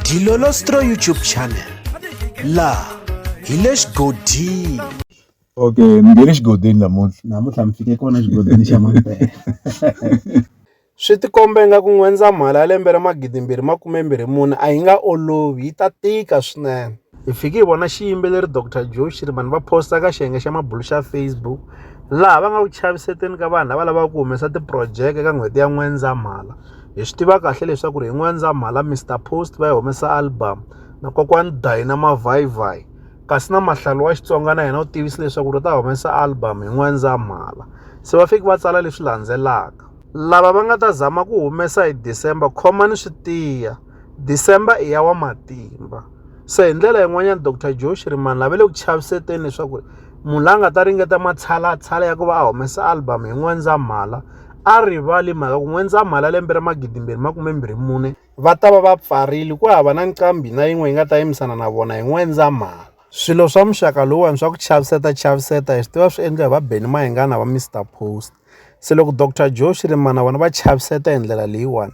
Dilolostro YouTube channel la hi le xigodini okay mi nge le xigodini namuntlha namuntlha mi fike kona xigodini xa mampela swi tikombe nga ku n'wendzamhala ya lembe ra magidimbirhi makumembirhi mune a yi nga olovi yi ta tika swinene Hi fike hi vona xiyimbeleri Doctor Joe Shirimani va posta ka xiyenge xa mabulo xa Facebook laha va nga ku chaviseteni ka vanhu lava lavaka ku humesa tiphurojeke ka n'hweti ya N'wendzamhala. Hi swi tiva kahle leswaku ri hi N'wendzamhala Mister Post va yi humesa album na kokwani Dayina Mavhayivhayi kasi na Mahlalu wa Xitsonga na yena u tivise leswaku ri ta humesa album hi N'wendzamhala. Se va fike va tsala leswi landzelaka, lava va nga ta zama ku humesa hi December khomani swi tiya. December i ya wa matimba se hi ndlela yin'wanyana Dr Joe Shirimani lave le ku chaviseteni leswaku munhu la nga ta ringeta matshalatshala ya ku va a humesa album hi N'wendzamhala a rivali mhaka ku N'wendzamhala lembe ra magidimbirhi makume mbirhi mune va ta va va pfarile ku hava na nqambi na yin'we yi nga ta yimisana na vona hi N'wendzamhala swilo swa muxaka lowuwani swa ku chaviseta chaviseta hi swi tiva swi endliwa hi va Benny Mayengana va Mr Post Se loko Doctor Joe Shirimana vona va chaviseta hi ndlela leyiwani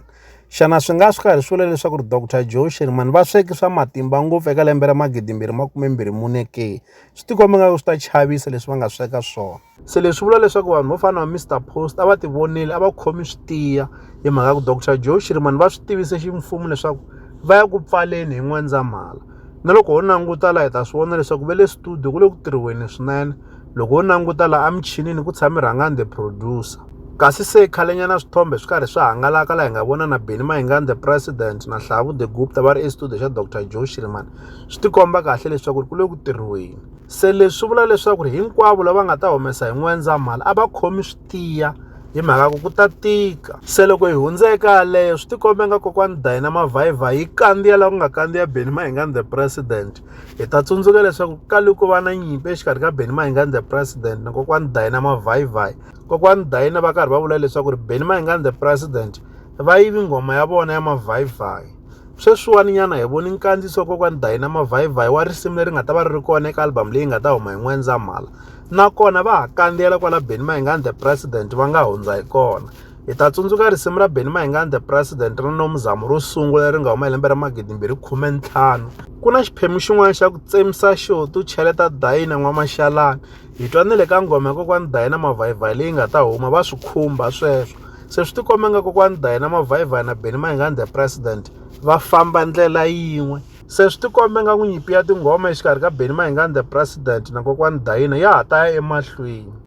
xana swi nga swi karhi swi vula leswaku ri Doctor Joe Shirimani va sweke swa matimba ngopfu eka lembe ra magidimbirhi makumembirhi mune ke swi tikomba nga ku swi ta chavisa leswi va nga sweka swona se leswi vula leswaku vanhu vo fana na Mr Post a va ti vonile a va khomi swi tiya hi mhaka ku Doctor Joe Shirimani va swi tivise ximfumo leswaku va ya ku pfaleni hi N'wendzamhala na loko ho languta laha hi ta swi vona leswaku ve le studio ku le ku tirhiweni swinene loko wo languta laha emichinini ku tshame rhangani the producer kasi se khalenyana swithombe swi karhi swi hangalaka laha hi nga vona na beni mahingani the president na hlavu the gupta va ri estudio xa dr joe shirman swi tikomba kahle leswaku ri ku le ku tirhiweni se leswi swi vula leswaku ri hinkwavo lava nga ta humesa hi n'wendzamhala a va khomi swi tiya hi mhaka ku ku ta tika se loko hi hundza eka yaleyo swi tikombe nga kokwani dayina mavhayivhayi yi kandziya laha ku nga kandziya beni mahingani the president hi ta tsundzuka leswaku ka loko va na nyimpi exikarhi ka benny mahingani the president na kokwani dayina mavhayivhayi kokwani dayina va karhi va vula leswaku ri benny mahingani the president va yivi nghoma ya vona ya mavhayivhayi sweswiwani nyana hi voni nkandziso kokwani dayina mavhayivhayi wa risimu leri nga ta va ri ri kona eka album leyi nga ta huma hi n'wendzamhala nakona va ha kandziyela kwala benny mahingani the president va nga hundza hi kona hi ta tsundzuka risimu ra benny mayingani the president ri no muzamo ro sungula leri nga huma hi lembe ra magidi mbirhi khume ntlhanu ku na xiphemu xin'wana xa ku tsemisa xo tu cheleta dayina n'wamaxalana hi twa ni le ka nghoma ya kokwani dayina mavhayivhayi leyi nga ta huma va swi khumba sweswo se swi tikomba nga kokwani dayina mavhayivhayi na benny mayingani the president va famba ndlela yin'we se swi tikombe nga ku nyimpi ya tinghoma exikarhi ka benny mayingani the president na kokwani dayina ya ha ta ya emahlweni